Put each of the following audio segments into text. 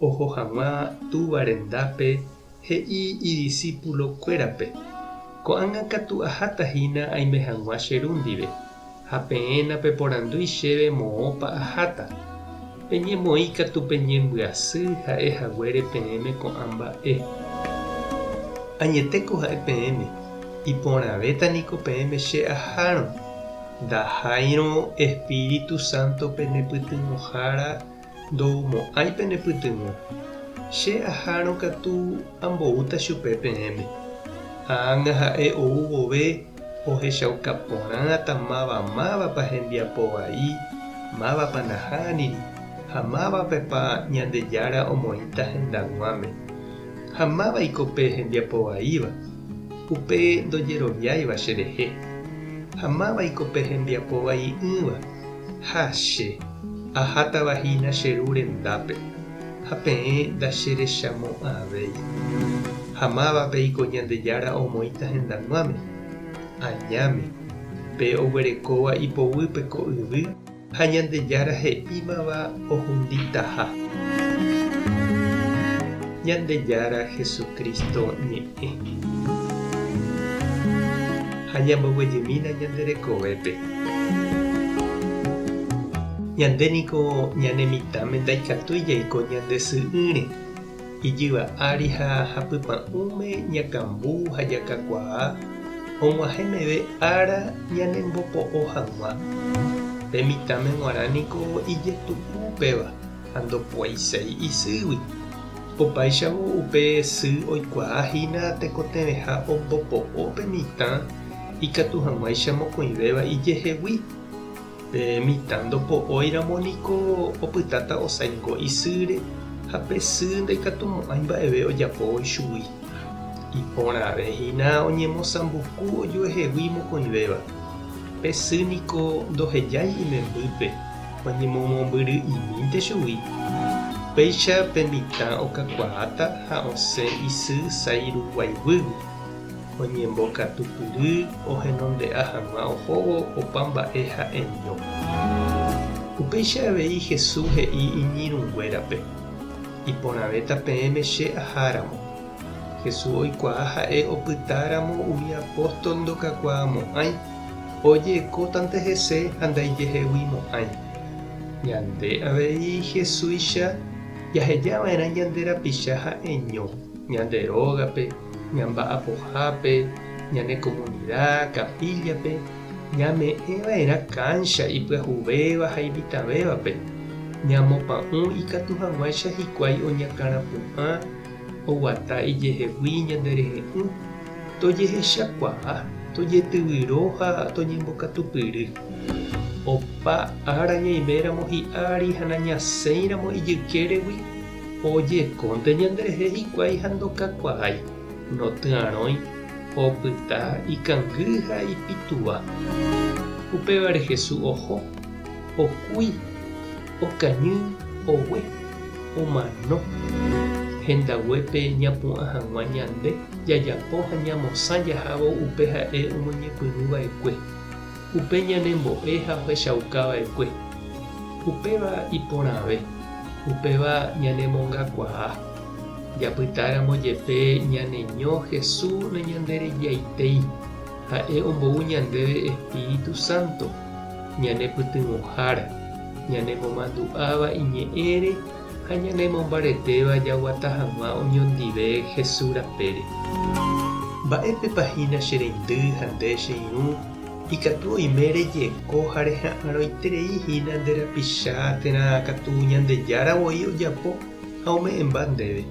Oho hag̃ua Túva rendápe, he'i idisípulo kuérape, Ko'ág̃a katu aháta hína aime hag̃ua che Ru ndive, ha peẽ napeporandúi chéve moõpa aháta. Peñemoĩ katu pe ñembyasy ha'e haguére peẽme ko'ã mba'e. Añetéko ha'e peẽme, iporãvéta niko peẽme che ahárõ. Ndaháirõ Espíritu Sánto penepytyvõhára Ndomo'ãi pene pytyvõ. Che ahárõ katu amboúta chupe peẽme. Ág̃a ha'e ou vove ohechauka porãta máva mávapa hembiapo vai, mávapa nahániri ha mávapepa Ñandejára omoĩta hendag̃uáme. Ha mávaiko pe hembiapo vaíva, upe ndojeroviáiva cherehe. Ha mávaiko pe hembiapo vai'ỹva. Ha che, ahátava hína che Ru rendápe, ha peẽ ndacherechamo'ãvéi. Ha mávape iko Ñandejára omoĩta hendag̃uáme? Añáme, pe oguerekóva ipoguýpe ko yvy ha Ñandejára he'ímava ohunditaha. Ñandejára Jesucristo ñe'ẽ. Ha ñamboguejymína ñande rekovépe. Ñande niko ñane mitãme ndaikatúi jaiko ñande sy'ỹre. Ijyva ári ha hapypa'ũme ñakambu ha jakakuaa og̃uahẽ meve ára ñanembopo'o hag̃ua. Pe mitãme g̃uarã niko ijetu'u upéva ha ndopuaiséi isýgui. Opáichavo upe sy oikuaa hína tekotevẽha ombopo'o pe mitã ikatu hag̃uáicha mokõivéva ijehegui. Pe mitã ndopo'óiramo niko opytáta osaingo isýre ha pe sy ndaikatumo'ãi mba'eve ojapóvo ichugui. Iporãve hína oñemosambuku ojuehegui mokõivéva. Pe sy niko ndohejái imembýpe. Oñemomombyry'imínte chugui. Péicha pe mitã okakuaáta ha osẽ isy sairuguayguýgui. Oñembokatupyry ohenonde'a hag̃ua ohóvo opa mba'e ha'eño. Upéicha avei Jesús he'i iñirũnguérape, Iporãvéta peẽme che aháramo. Jesús oikuaa ha'e opytáramo umi apóstol ndokakuaamo'ãi. Ojekótante hese ha ndaijehegui mo'ãi. Ñande avei Jesuicha jaheja va'erã ñande rapicha ha'eño, ñande rógape, ñamba'apohápe, ñane komunida, kapíllape, ñame'ẽ va'erã káncha ipyahuvéva ha imitãvévape, ñamopa'ũ ikatu hag̃uáicha hikuái oñakãrapu'ã, oguata ijehegui ñande rehe'ỹ, tojehechakuaa, tojetyvyro ha toñembokatupyry. Opa ára ñaiméramo hi'a ári ha nañasẽiramo ijykéregui, ojekónte ñanderehe hikuái ha ndokakuaái, ndotyarõi, opyta, ikangy ha ipytũva. Upévare Jesús oho, okúi. Okañy ogue, omano. Hendaguépe ñapu'ã hag̃ua ñande jajapo ha ñamosã jahávo upe ha'e omoñepyrũ va'ekue, upe ñanembo'e ha ohechauka va'ekue. Upéva iporãve, upéva ñanemongakuaa. Japyta ramo jepe ñaneño Hesu nañanderejaitei, ha'e ombou ñandéve Espíritu Santo. ñanepytyvõhára, ñanemomandu'áva iñe'ẽre ha ñanemombaretéva jaguata hag̃ua oñondive Jesús rapére. Mba'épepa hína che reindy ha nde che irũ ikatu oime rejeko ha reha'arõiterei hína nde rapicha térã katu Ñandejára voi ojapo ha ome'ẽmba ndéve?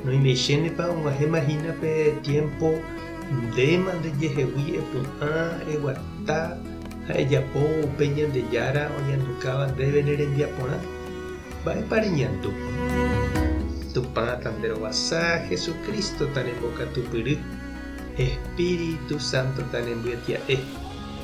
Noimeisénepa oguahẽma hína pe tiémpo ndéma ndejehegui epu'ã eguata ha ejapóvo upe Ñandejára oñandukáva ndéve ne rembiaporã? Mba'épa reñandu? Tupãta nde rovasa, Jesucrístota ne mbokatupyry, Espíritu Sántota ne mbyetia'e.